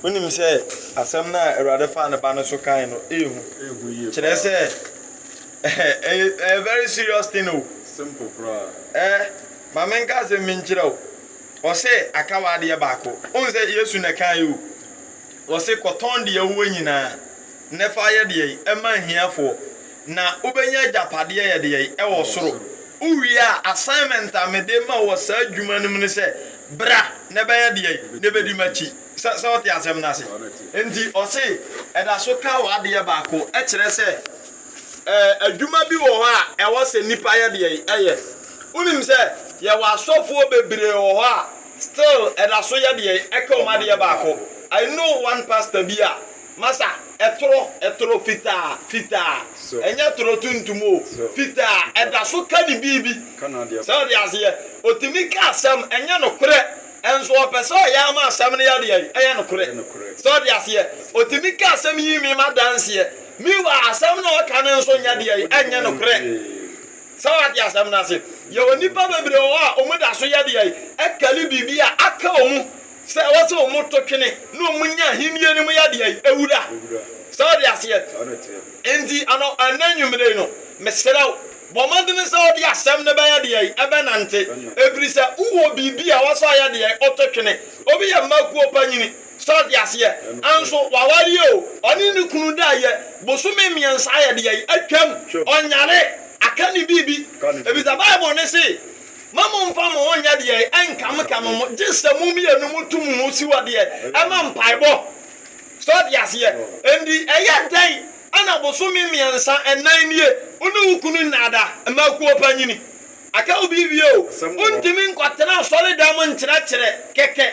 Wonim sɛ asɛm no a Awurade faa ne ba no so kae no ɛyɛ hu. Kyerɛ sɛ ɛyɛ very serious thing o. Simple koraa. Ɛɛ ma menka asɛm bi nkyerɛ wo. Ɔse aka w'adeɛ baako. Wohu sɛ Yesu na ɛkae o. Ɔse kɔtɔn deɛ wowɔ nyinaa na fa yɛ deɛ ɛma ahiafoɔ. na wobɛnya agyapadeɛ yɛdeɛi ɛwɔ soro. Wo wie a assignment a mede ma wo wɔ saa adwuma no mu ne sɛ bra na ɛbɛyɛ deɛi na ɛbɛdi makyi. Sɛ sɛ wote asɛm no ase? Nti ɔse ɛda so ka w'adeɛ baako ɛkyerɛ sɛ ɛɛ adwuma bi wɔ hɔ a ɛwɔ sɛ nipa yɛ deɛi ɛyɛ. Wonim sɛ yɛwɔ asɔfoɔ bebree wɔ hɔ a still ɛda so yɛ deɛi ɛka wɔn adeɛ baako. I know one pastor bi a Masa, ɛtoro, ɛtoro fitaa, fitaa, ɛnyɛ toro tuntum o, fitaa, ɛda so ka ne biribi. Sɛ ɔde aseɛ, ɔtumi ka asɛm, ɛnyɛ nokorɛ, nso ɔpɛ sɛ ɔyɛ ama asɛm no yɛ deɛn? Ɛyɛ nokorɛ. Sɛ ɔde aseɛ, ɔtumi ka asɛm yi me ma danseɛ, meanwhile asɛm no a ɔka no nso nyɛ deɛn? Ɛnyɛ nokorɛ. Sɛ wate asɛm no ase? Yɛwɔ nnipa bebree wɔ hɔ a wɔda so yɛ deɛn? Ɛkari biribi a aka wɔn mu. Sɛ ɛwɔ sɛ wɔto twene na wɔnya Ahenni no mu yɛdeɛ yi, awura. Sɛ wode aseɛ? Enti ano, ɛnnɛ anwummere yi no, mesrɛ wo, bɔ mmɔden sɛ wode asɛm no bɛyɛ deɛ yi, ɛbɛnante. Ɛfiri sɛ wowɔ biribi a ɛwɔ sɛ ɔyɛ deɛ yi, woto twene. Obi yɛ mma kuo panyini, sɛ wode aseɛ? Nso wawareɛ o, ɔne ne kunu daeɛ, bosome mmiɛnsa ayɛ deɛ yi, atwam, ɔnyare, aka ne biribi. Ɛfiri sɛ Bible no se. Mma mommfa mo ho nnyɛ deɛ ɛnkamkam mo, gye sɛ mo mmienu moto mo ho si hɔ deɛ ɛma mpaebɔ. So ɔte aseɛ? Enti ɛyɛ dɛn na bosome mmiɛnsa, ɛnan nie, wo ne wo kunu nnaada mma akuo pa nyini? Aka wo biribi o, wontumi nkɔtena asɔredam nkyerɛkyerɛ kɛkɛ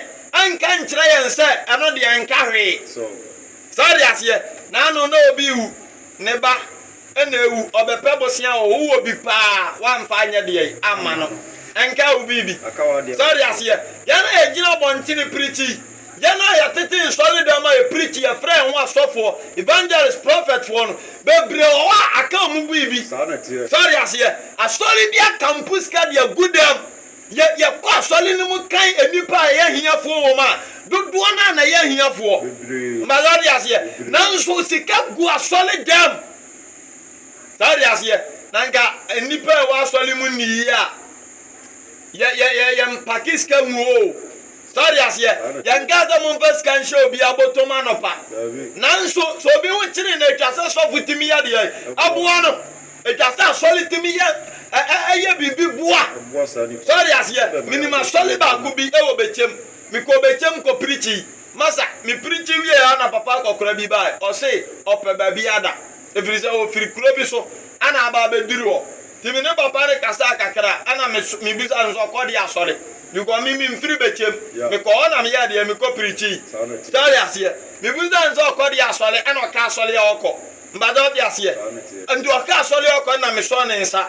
nka nkyerɛ yɛn sɛ ɛno deɛ ɛnka hwee. So ɔte aseɛ? Naano na obi rewu. Ne ba na awu, ɔbɛpɛ bosea hɔ, wowɔ bi paa woamfa anyɛ deɛn amma no? Ɛnkaa wo biribi? Sɛ wote aseɛ? Yɛn a yɛgyina abɔntene pirikyi, yɛn a yɛtete nsɔredan mu a yɛpirikyi, yɛfrɛ yɛn ho asɔfoɔ, evangelists, prophetsfoɔ no, bebree wɔ hɔ a aka wɔn biribi. Sɛ wote aseɛ? Asɔre bi aka mpo sika de agu dɛm. Yɛ, yɛkɔ asɔre no mu kan nnipa a ɛyɛ ahiafoɔ wɔ mu a, dodoɔ no ara na ɛyɛ ahiafoɔ. Ma wate aseɛ? Nanso sika gu asɔre dɛm. Saa wate aseɛ? Na nka nnipa a ɛwɔ asɔre mu nni yie a, yɛ, yɛ, yɛ, yɛ mpake sika ngu hɔ o. Saa wate aseɛ? Yɛnkaa sɛ momfa sika nhyɛ obiara bɔtɔ mu anɔpa. Nanso sɛ obi ho kyere no a, ɛtwa sɛ sɔfo tumi yɛ deɛn? Ɛboa no. Ɛtwa sɛ asɔre tumi yɛ yɛ biribi boa. So ɔte aseɛ? Menim asɔre baako bi wɔ Bɛkyɛm. Mekɔɔ Bɛkyɛm kɔ pirikyi. Masa, me pirikyi wieɛ a na papa akɔkora bi baeɛ. Ɔse ɔpɛ baabi ada. Ɛfiri sɛ ɔfiri kuro bi so na aba abɛduru hɔ. Nti me ne papa no kasaa kakra a na mebisaa no sɛ ɔkɔ deɛ asɔre. Because me memfiri Bɛkyɛm. Mekɔɔ hɔ na meyɛɛ deɛ? Mekɔ pirikyi. So ɔte aseɛ? Mebisaa no sɛ ɔkɔ deɛ asɔre na ɔkaa asɔre a ɔkɔ. Mpatsɔ ɔtse aseɛ? Ntsi ɔkã asɔr yi ɔkɔ na mesɔɔ ne nsa.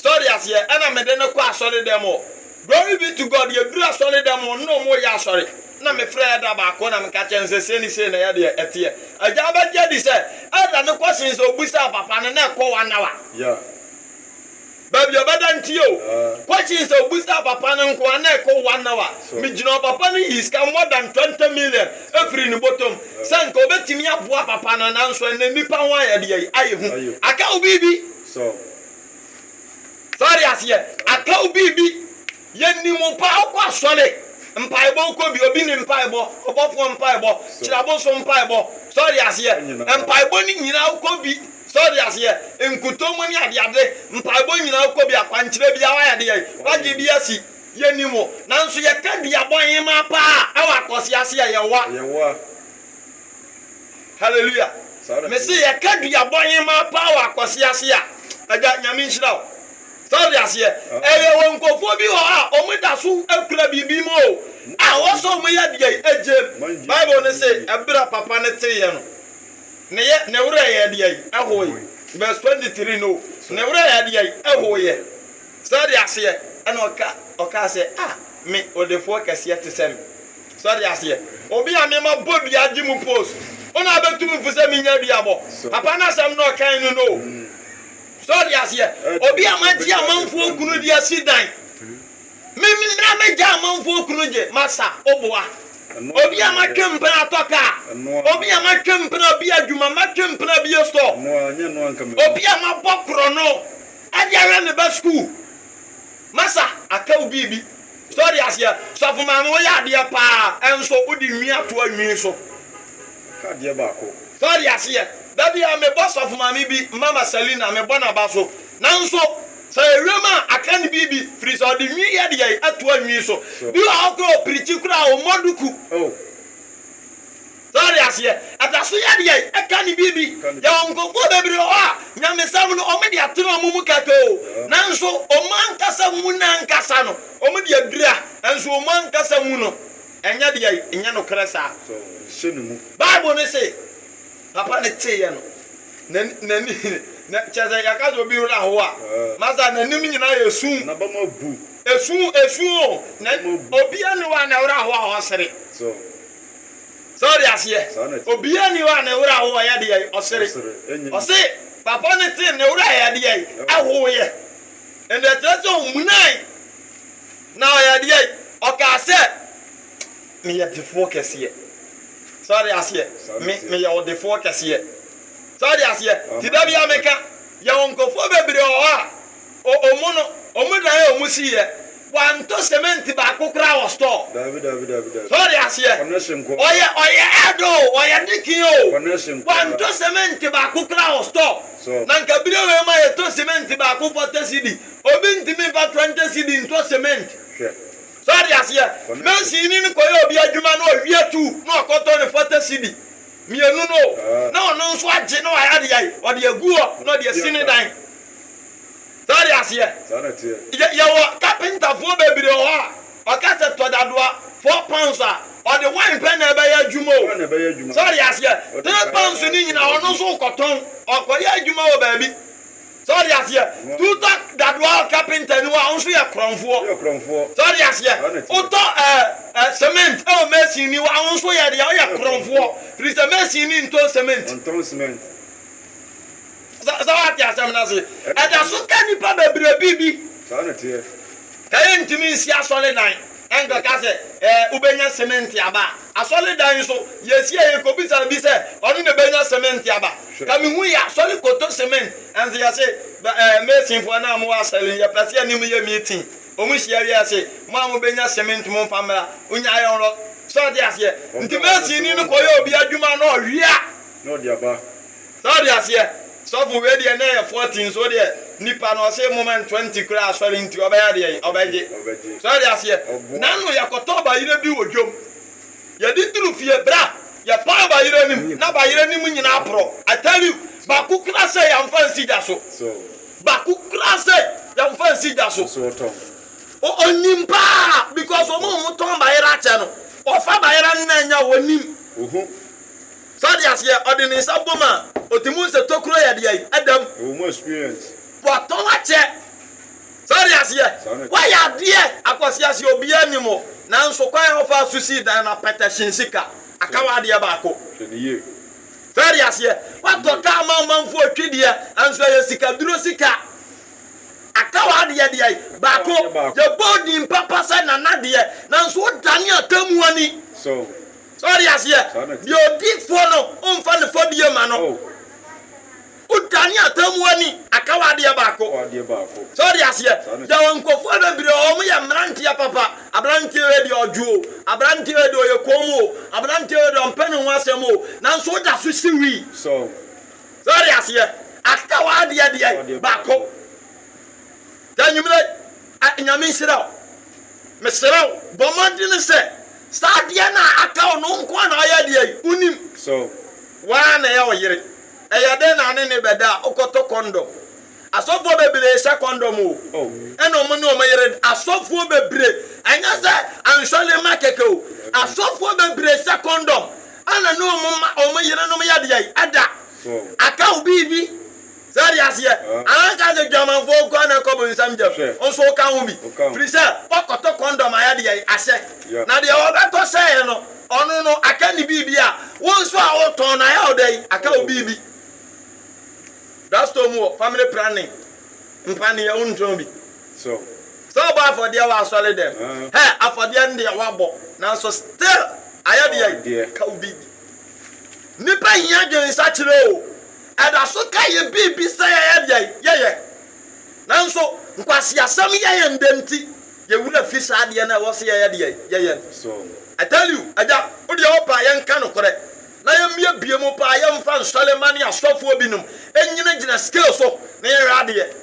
Sɛ ɔtse aseɛ? Nna mede no kɔ asɔre dɛm hɔ. Glory be to God, yedur asɔre dɛm hɔ nna ɔmo reyɛ asɔre. Nna mefrɛ Elder baako na meka kyerɛ no sɛ sei ne sei na ɛyɛ deɛ ɛteɛ. Agya abɛgye adi sɛ Elder no kɔ sen sɛ obusaa papa no na ɛkɔ one hour. baabi a ɔbɛda ntie o, kɔhye sɛ obusaa papa no nkoa na ɛkɔ one hour, megyina hɔ papa no yii sika more than twenty million firii ne bɔtɔm sɛ nka ɔbɛtumi aboa papa no nanso ɛnnɛ nnipa ho ayɛ deɛ ayɛ hu, aka wo biribi? So ɔte aseɛ? Aka wo biribi? Yɛnni mu paa, wokɔ asɔre, mpaebɔ, wokɔ bi, obi ne mpaebɔ, ɔbɔfoɔ mpaebɔ, kyerɛboso mpaebɔ, sɛ ɔde aseɛ, mpaebɔ no nyinaa wokɔ bi, sɛ ɔde aseɛ, nkutoo mu ne adeade, mpaebɔ nyinaa wokɔ bi, akwankyerɛ biara wayɛ deɛ, wagye bi asi, yɛnni mu, nanso yɛka dua bɔhemaa paa ɛwɔ akɔse aseɛ, yɛwa. Hallelujah. Mese yɛka dua bɔhemaa paa wɔ akɔse aseɛ a, agya, Nyame nhyira wo. So ɔte aseɛ? Ɛyɛ wɔ nkurɔfoɔ bi hɔ a wɔn da so kura biribi mu o, a wɔ sɛ wɔn yɛ deɛ ɛgye mu. Bible no se, ɛberɛ a papa no teeɛ no, ne yɛ, ne werɛ yɛɛ deɛ? Ɛhoe. Verse twenty three no, ne werɛ yɛɛ deɛ? Ɛhoeɛ. So ɔte aseɛ? Ɛna ɔka, ɔkaa sɛ, Ah, me, odefoɔ kɛseɛ te sɛ me. So ɔte aseɛ? Obi a me ma bɔ dua gye mu post, wo na abɛtu me fo sɛ me nya duabɔ? Papa no asɛm na ɔkae no no o. So ɔte aseɛ? Obi a magye amanfoɔ kunu de asi dan. Me na megya amanfoɔ kunu gye masa oboa. Obi a matwe mpena atɔ kaa. Obi a matwe mpena bi adwuma, matwe mpena bi store. Obi a mabɔ korɔno de ahwɛ me ba sukuu. Masa, aka wo biribi. So ɔde aseɛ? Sɔfo maame woyɛ adeɛ paa ɛnso wode nwi ato anwi so ka adeɛ baako. So ɔde aseɛ? Da biara mebɔ sɔfo maame bi mama Selina mebɔ naba so nanso sɛ ɔyɛ wiem a aka ne biribi firi sɛ ɔde nwi yɛ deɛ ato anwi so bi wɔ hɔ koraa ɔpirikyi koraa ɔmmɔ duku oh. So wate aseɛ? Ɛda so yɛ deɛ ɛka ne biribi. Yɛwɔ nkorɔfoɔ bebree hɔ a, nyamesɛm no wɔde atene wɔn mu katoo, nanso wɔn ankasa mu no ankasa no, wɔde adura, nanso wɔn ankasa mu no, ɛnyɛ deɛ ɛnyɛ nokorɛ saa. Bible no se, Papa no teeɛ no, n'ani, n'ani, na, kyerɛ sɛ, yɛka sɛ obi werɛ ahoɔ a, masa n'anim nyinaa yɛ sum. N'abam abu. Esu, esu o, na obiara nni hɔ a ne werɛ ahoɔ a ɔsere. So ɔde aseɛ? Obiaa nni hɔ a ne werɛ ahoɔ yɛ deɛn? Ɔsere. Ɔse papa no tee ne werɛ yɛ deɛn? Ɛhoeɛ. Ɛnde ɛkyerɛ sɛ ɔmunae na ɔyɛ deɛn? Ɔkaa sɛ, Meyɛ defoɔ kɛseɛ. So ɔde aseɛ? Me, meyɛ ɔdefoɔ kɛseɛ. So ɔde aseɛ? Nti da biaa meka, yɛwɔ nkorɔfoɔ bebree wɔ hɔ a, Wɔn no, wɔdanee wɔn siiɛ. Wɔantɔ semɛnti baako koraa wɔ store. So wɔte aseɛ? Ɔyɛ, ɔyɛ Ed o, ɔyɛ Dikin o, wɔantɔ semɛnti baako koraa wɔ store. Na nka bere wei mu a yɛtɔ semɛnti baako forty cedi. Obi ntumi mfa twenty cedi ntɔ semɛnti. So wɔte aseɛ? Masonni no kɔyɛ obi adwuma na ɔwe atuu na ɔkɔtɔ no forty cedi mmienu no o, na ɔno nso agye na wayɛ adeɛ ayi, ɔde agu hɔ na ɔde asi ne dan. So wode aseɛ? Yɛ, yɛwɔ kapentafoɔ bebree wɔ hɔ a, ɔka sɛ tɔ dadoa four pounds a, ɔde wine pɛ na ɛbɛyɛ adwuma o. So wode aseɛ? Three pounds no nyina ɔno nso wokɔtɔn, ɔkɔyɛ adwuma wɔ baabi. So wode aseɛ? Tutɔ dadoa wɔ kapenta no hɔ a, wo nso yɛ korɔmfoɔ. So wode aseɛ? Wotɔ ɛɛ ɛ cement wɔ mason ni hɔ a, wo nso yɛ deɛ, woyɛ korɔmfoɔ. Firi sɛ mason ni ntɔn cement. Sɛ woate asɛm no ase, ɛda so ka nnipa bebree biribi. Sɛ yɛntumi nsi asɔredan nkɛka sɛ wobɛnya semɛnte aba a, asɔredan nso, yɛsi a yɛkɔbisa bi sɛ ɔno na ɛbɛnya semɛnte aba. Ka mehu yɛ asɔre kɔtɔ semɛnte, ɛnso yɛse masonfoɔ no a mowɔ asɔre no, yɛpɛ sɛ yɛne mo yɛ meeting. Wɔn hyia wie a yɛse, mo a mobɛnya semɛnte momfa mmra. Wonyae ɔrɔ. So wote aseɛ? Nti masonni no kɔyɛ obi adwuma na ɔwe a, na ɔde aba. Sɛ ɔde aseɛ sɔfo wei deɛ na ɛyɛ fourteen so deɛ nipa no ɔse moma no twenty koraa asɔre nti ɔbɛyɛ deɛn ɔbɛgye so ɔde aseɛ nano yɛkɔtɔ bayerɛ bi wɔ dwom yɛde duru fie bra yɛpaa bayerɛ nim na bayerɛ nim nyinaa porɔ I tell you baako koraa sɛ yɛmfa nsi gya so baako koraa sɛ yɛmfa nsi gya so ɔnim paa because ɔmo ɔmo tɔn bayerɛ akyɛ no ɔfa bayerɛ no na anya ɔnim Fa de aseɛ, ɔde ne nsa bom a, ɔte mu sɛ tokuro yɛ deɛ ɛdam. Ɛwɔ mu experience. Watɔ wakyɛ. Fa de aseɛ, wayɛ adeɛ akwasia sɛ obiara nnim wo, nanso kwan a ɔfaa so sii dan no apata hyɛn sika, aka wo adeɛ baako. Hwɛ no yie. Fa de aseɛ, watɔ kaa ma ɔmanfoɔ twi deɛ, nanso ɛyɛ sika duro sika, aka wo adeɛ deɛ baako. Yɛbɔ wo din papa sɛ Nana deɛ, nanso wodane atemmuo ni. So, So wate aseɛ? Deɛ ɔdi fɔ no, womfa ne fɔdie mma no. Wodane atemmuo ani aka w'adeɛ baako. So wate aseɛ? Yɛwɔ nkurɔfoɔ bebree a wɔyɛ mmeranteɛ papa. Aberanteɛ wei deɛ ɔdwo o, aberanteɛ wei deɛ ɔyɛ komm o, aberanteɛ wei deɛ ɔmpɛ ne ho asɛm o, nanso woda so si wi. So wate aseɛ? Aka w'adeɛ deɛ baako. Sɛ anwummerɛ yi. Ah Nyame nhyira wo. Meserɛ wo bɔ mmɔdene sɛ saa adeɛ no a aka wo no wo nko ara na ayɛ adeɛ yi. Wonim so wo ara na ɛyɛ wo yere. Ɛyɛ dɛn na ne ne bɛda a wokɔtɔ kɔndɔm? Asɔfoɔ bebree hyɛ kɔndɔm o, ɛna wɔn ne wɔn yere da. Asɔfoɔ bebree, ɛnyɛ sɛ ansɔre ma kɛkɛ o, asɔfoɔ bebree hyɛ kɔndɔm ɛna ne wɔn ma wɔn yerenom yɛ deɛn? Ɛda. Aka wo biribi. So wate aseɛ? Anka sɛ dwamanfoɔ nko ara na ɛkɔ bonsam gyam. Wo nso woka ho bi. Firi sɛ, woakɔtɔ kɔndɔm ayɛ deɛn? Ahyɛ. Na deɛ wɔbɛtɔ hyɛeɛ no, ɔno no, aka ne biribi a wo nso a wotɔn no ayɛ wo dɛn? Aka wo biribi. Drugstore mu hɔ, family planning, mpaneɛ, wontɔn bi. So wobɔ afɔdeɛ wɔ asɔredɛm? Hɛ, afɔdeɛ no deɛ woabɔ, nanso still ayɛ deɛn? Aka wo biribi. Nnipa hia dwensakyera o. Ɛda so ka yɛn biribi sɛ yɛyɛ deɛ yɛyɛ, nanso nkwaseasɛm yɛ yɛn dɛ nti, yɛn werɛ fi saa adeɛ no a ɛwɔ sɛ yɛyɛ deɛ yɛyɛ no. I tell you, Agya, wo deɛ wopɛ a yɛnka nokorɛ, na yɛmmiabie mu paa yɛmfa nsɔre mma ne asɔfoɔ binom nnyinagyina scale so na yɛnhwɛ adeɛ.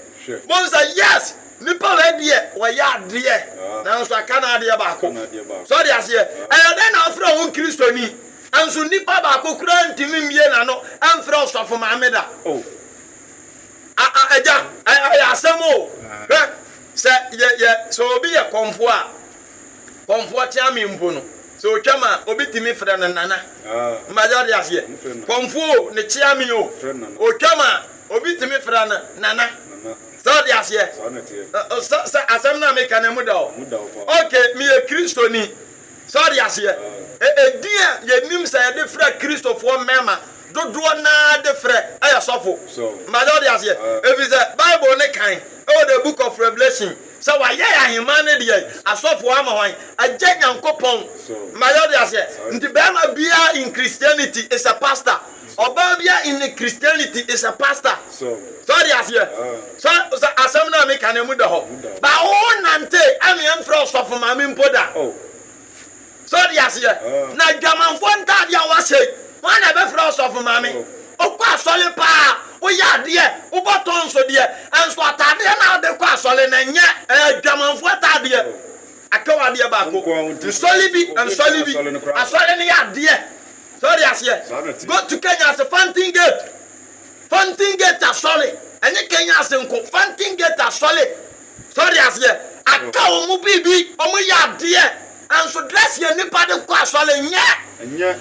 Mohu sɛ, yes, nnipa wei deɛ wɔyɛ adeɛ, nanso aka no adeɛ baako. So ate aseɛ? Ɛyɛ dɛn na wofrɛ wo ho Kristoni? Nanso nipa baako koraa antumi mmue n'ano amfrɛ ɔsɔfo maame da. Oh, a-a, agya, ɛ-ɛyɛ asɛm o. Hwɛ, sɛ yɛ, yɛ, sɛ obi yɛ kɔmfoɔ a, kɔmfoɔ teame mpo no, sɛ otwam a, obi tumi frɛ no Nana. Ma yɛte aseɛ. Kɔmfoɔ o, ne teame o, otwam a, obi tumi frɛ no Nana. Sɛ ɔte aseɛ? Ɛ-ɛ, sɛ, sɛ asɛm no a meka no, emu da hɔ? Okay, meyɛ Kristoni. So ɔte aseɛ? E Edin a yɛnim sɛ yɛde frɛ Kristofoɔ mmarima dodoɔ no ara de frɛ yɛ sɔfo. Mpa sɛ wote aseɛ? Ɛfiri sɛ Bible no kae wɔ The Book of Revelation sɛ wɔayɛ yɛn ahemmaa no deɛn? Asɔfoɔ ama hwan? Agya Nyankopɔn. Mpa sɛ wote aseɛ? Nti barima biara in Christianity is a pastor. Ɔbaa bi a in Christianity is a pastor. So ɔde aseɛ? So sɛ asɛm no a meka no emu da hɔ? Ba wo nante a me mfrɛ ɔsɔfo maame mpo da. So ɔde aseɛ? Na adwamanfoɔ ntaade a wɔahyɛ yi, hwan na ɛbɛfrɛ ɔsɔfo maame? Wokɔ asɔre paa, woyɛ adeɛ, wobɔ tɔnso deɛ, nso ataadeɛ no a wode kɔ asɔre no ɛnyɛ, ɛyɛ adwamanfoɔ ataadeɛ. Aka wo adeɛ baako. Nsɔre bi, nsɔre bi. Asɔre no yɛ adeɛ. So wode aseɛ? Go to Kenya ase Fountain Gate Fountain Gate asɔre ɛnyɛ Kenya ase nko Fountain Gate asɔre So wode aseɛ? Aka wɔn mo biribi wɔn mo yɛ adeɛ Nso dress yɛ nipa de kɔ asɔre nyɛ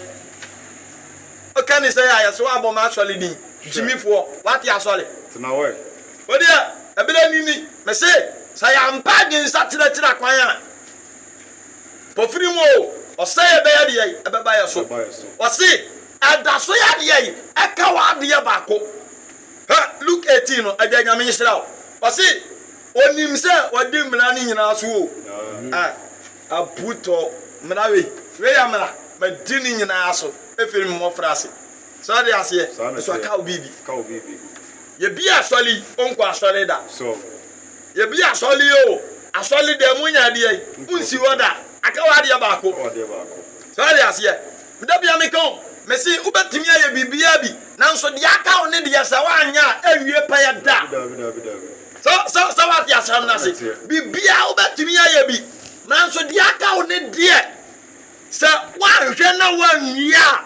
Oka ni sɛ yɛ sɛ wabɔ ma asɔre din Gyimi foɔ wate asɔre Wodeɛ ɛberɛ ni ni Mese sɛ yɛampa adwensakyera kyera kwan a. Ofiri mu oo, ɔsɛe a ɛbɛyɛ deɛ yi, ɛbɛba yɛ so. Ɔse, ɛda so yɛ deɛ yi, ɛka wo adeɛ baako. Hɛ, Luke eighteen no, agya Nyame nhyira wo. Ɔse, onim sɛ wadi mmara no nyinaa so oo. Amen. Abutɔ, mmara wei, wei yɛ mmara, madi ne nyinaa so firi me mmɔfra ase. So ɔde aseɛ? Saa na ɛteɛ. So ɛka wo biribi? Ɛka wo biribi. Yɛbie asɔre yi, ɔnkɔ asɔre da. So. Yɛbi asɔre yi o, asɔre dɛm mu nyɛ adeɛ yi, wonsi hɔ da. Aka wo adeɛ baako. So wate aseɛ? Meda bia meka o, mese wobɛtumi ayɛ biribiara bi, nanso deɛ aka wo ne deɛ sɛ woanyɛ a, ɛnwie pɛyɛ da. So, so, so wate asɛm no ase? Biribiara wobɛtumi ayɛ bi, nanso deɛ aka wo ne deɛ sɛ woanhwɛ na woanwie a,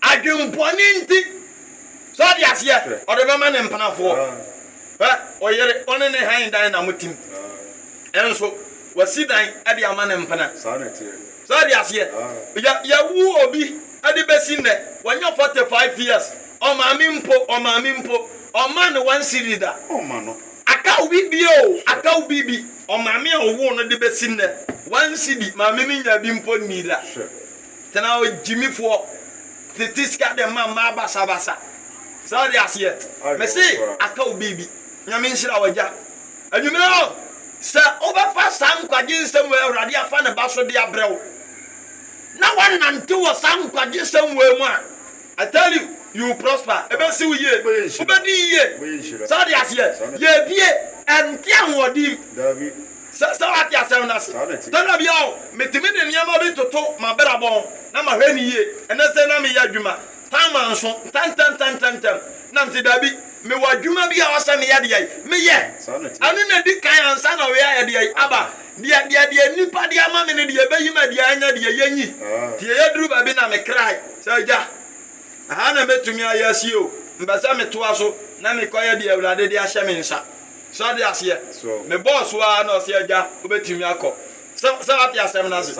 adwembɔne nti. So ate aseɛ? Ɔde bɛma ne mpenafoɔ. Hwɛ, ɔyere, ɔne ne hann dan na motim. Nso wasi dan de ama ne mpena. So ate aseɛ? Yɛ, yɛwo obi de bɛsi nnɛ, wanya 45 years, ɔmaame mpo, ɔmaame mpo, ɔmmaa no one cedi da. Akaw bi bio, akaw bi bi, ɔmaame a ɔwoo no de bɛsi nnɛ, one cedi, maame no nyaa bi mpo nnii da. Tena hɔ gyimifoɔ tete sika de ma mmaa basabasa saa ɔde aseɛ mese aka wo biribi nyame nhyira wagya anwummerɛ hɔ sɛ wobɛfa saa nkwagye nsɛm wɔ awurade afa ne ba so de abrɛ wo na wanante wɔ saa nkwagye nsɛm wɔ mu a I tell you you prosper ebesi wo yie wobɛdi yie saa ɔde aseɛ yɛbie ɛnte ahoɔden Sɛ sɛ woate asɛm no ase. Da na bia o, metumi de nneɛma bi toto m'abrabɔ ho na mahwɛ no yie. Ɛnɛ sɛ na meyɛ adwuma, time a nso, ntɛntɛntɛntɛntɛm na mete dabi, mewɔ adwuma bi a ɛwɔ sɛ meyɛ deɛ yi, meyɛ. Ɛno na ɛdi kan ansa na ɔyɛ ayɛ deɛ yi, aba. Deɛ, deɛ, deɛ nnipa de ama me no, deɛ ɛbɛyi ma deɛ ɛnyɛ deɛ yɛnyi. Nti ɛduru baabi na me kra sɛ, Agya, ɛha na mɛtumi ayɛ asie o, mepɛ sɛ metoa so na mekɔyɛ deɛ Awurade de ahyɛ me nsa. So wate aseɛ? Mebɔɔ so ara na ɔse agya wobɛtumi akɔ. Sɛ, sɛ wate asɛm no ase?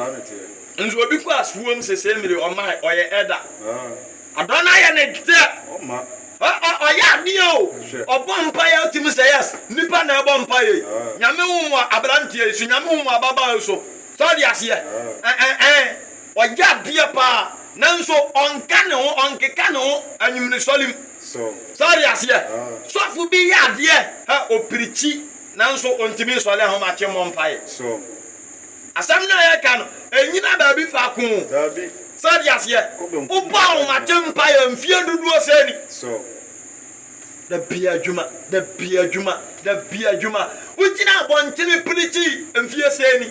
Nso obi kɔ asuom sesei mmere ɔmmae, ɔyɛ Elder. Adɔn no ayɛ ne dɛ. Ɔ, ɔ, ɔyɛ adeɛ o. Ɔbɔ mpaeɛ a wotumi sɛ, Yes, nnipa na ɛbɔ mpaeɛ yi. Nyame wo mmoa aberanteɛ yi so, Nyame wo mmoa ababaawa yi so. So wate aseɛ? Ɛ, ɛ, ɛ, ɔyɛ adeɛ paa. Nanso ɔnka ne ho, ɔnkeka ne ho anwummeresɔrem. so. So ɔte aseɛ? Sɔfo bi yɛ adeɛ a ɔpirikyi nanso ɔntumi nsɔre ahomakye mmɔ mpaeɛ. So asɛm no a yɛreka no, ɛnnyina baabi faako? Daabi. So ɔte aseɛ? Wobɔ ahomakye mpaeɛ mfeɛ dodoɔ sɛn ni? So da biara adwuma, da biara adwuma, da biara adwuma, wogyina abɔntene pirikyi mfeɛ sɛn ni?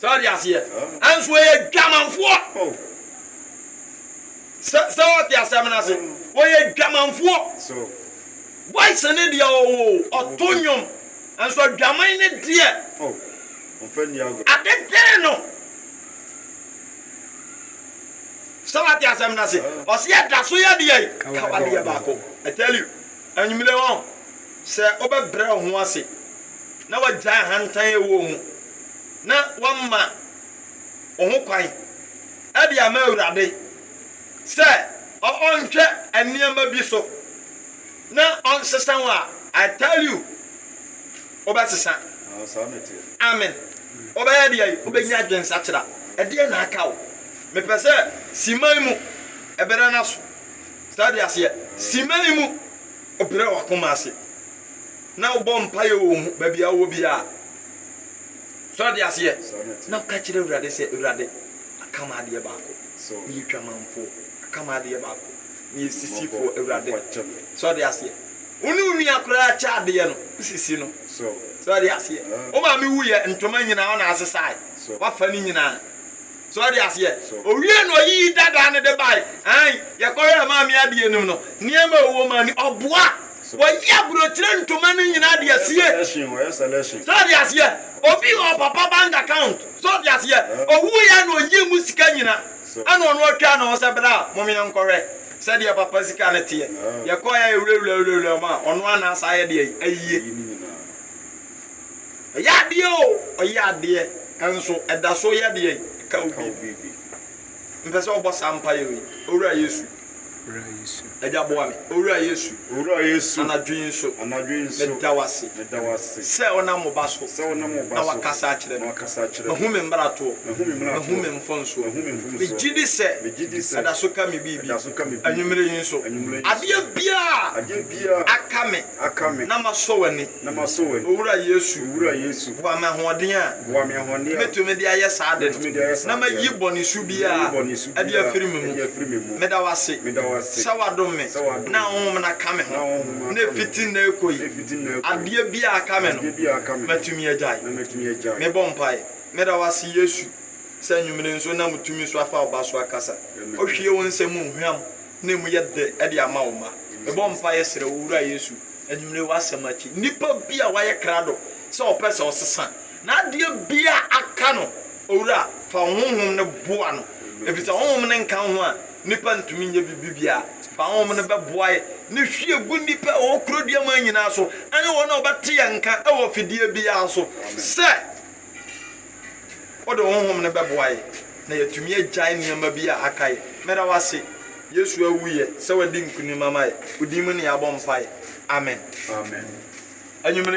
So wate aseɛ? Nanso wɔyɛ adwamanfoɔ. Sɛ, sɛ wɔte asɛm no ase, wɔyɛ adwamanfoɔ. Voice ne deɛ ɔwɔ o, ɔto nnwom, nanso adwaman ne deɛ, ade tee no. Sɛ wate asɛm no ase, ɔse ɛda so yɛ deɛ, kawadeɛ baako. I tell you, anwummere wɔn. Sɛ wobɛbrɛ wo ho ase na woagyae ahantan a ɛwɔ wo mu na woama wo ho kwan de ama Awurade sɛ ɔnhwɛ nneɛma bi so na ɔnsesa wo a, I tell you, wobɛsesa. Amen. Wobɛyɛ deɛ yi, wobɛnya adwensakyera. Ɛdeɛ na aka wo. Mepɛ sɛ siman mu ɛbɛrɛ no aso. Sɛ ɔde aseɛ, siman mu. wobrɛ w'akoma ase na wobɔ mpaeɛ wɔ mu baabi a wowɔ biara. So ɔde aseɛ? Na woka kyerɛ Awurade sɛ, Awurade, aka me adeɛ baako. Meyɛ dwamanfoɔ. Aka me adeɛ baako. Meyɛ sisifoɔ, Awurade. So ɔde aseɛ? Wo ne wo nua koraa kyɛ adeɛ no, wo sisi no. So ɔde aseɛ? Wo maame wuiɛ, ntoma nyinaa wo na asesae. Woafa ne nyinaa. So ɔde aseɛ? Owie na ɔyiyi dadaa no de bae. Aane, yɛkɔhwɛɛ Maame Abie nom no, nneɛma a ɛwɔ mu a ne ɔboa. Wɔyɛ aburokyire ntoma no nyinaa de asie. So ɔde aseɛ? Obi wɔ papa bank account. So ɔde aseɛ? Owuiɛ na ɔyii mu sika nyinaa, ɛna ɔno atwa ne ho sɛ bra mom yɛnkɔhwɛ sɛdeɛ papa sika no teɛ. Yɛkɔeɛ a yɛwurawuraa wurawuraa mu a, ɔno ara na asa ayɛ deɛn? Ayie. Ɔyɛ adeɛ o, ɔyɛ adeɛ, nso ɛda so yɛ deɛn? Ɛka wo biribi. Mepɛ sɛ wobɔ saa mpaeɛ wei, Owura Yesu, Agya boa me. Owura Yesu, anadwo yi nso, meda wo ase sɛ wonam wo Ba so na woakasa akyerɛ me. Mahu me mmaratoɔ, mahu me mfomsoɔ. Megye di sɛ ɛda so ka me biribi. Anwummerɛ yi nso, adeɛ biara a aka me na masɔ w'ani, Na masɔ w'ani. Owura Yesu. Owura Yesu. Boa me ahoɔden a. Boa me ahoɔden a. Mɛtumi de ayɛ saa ade no. Mɛtumi de ayɛ saa ade no. Na mayi bɔne su biara. Na mayi bɔne su biara. Adi afiri me mu. Adi afiri me mu. Meda wo ase. Meda wo ase. Sɛ woadom me. Sɛ woadom me. Na wo honhom no aka me ho. Na wo honhom no aka me ho. Na ɛfiti nnɛ rekɔ yi. Na ɛfiti nnɛ rekɔ yi. Adeɛ biara a aka me no. Adeɛ biara a aka me no. Mɛtumi agyae. Na mɛtumi agyae. Mebɔ mpaeɛ. Meda wo ase Yesu sɛ anwummere nso na mo tumi so afa wo ba so akasa. Wohwie wo nsɛm mu hwam. na emu yɛ dɛ de ama wo mma. Mebɔ mpaeɛ srɛ wo, Owura Yesu, anwummere w'asɛm akyi, nnipa bi a wayɛ krado sɛ ɔpɛ sɛ ɔsesa, na adeɛ biara aka no, Owura, fa wo Honhom no boa no, ɛfiri sɛ Honhom no nka wo ho a, nnipa ntumi nyɛ biribi biara. Fa Honhom no bɛboaɛ ne hwie gu nnipa a wɔwɔ kuro duaman nyinaa so, ɛne wɔn a wɔbɛte yɛn nka wɔ fidie biara so sɛ, Wode honhom no bɛboa yɛ na yɛatumi agyae nneɛma bi a aka yɛ. Meda wo ase, Yesu awu yɛ sɛ wadi nkonim ama yɛ. Wo din mu ne yɛabɔ mpaeɛ. Amen. Amen. Anwummere.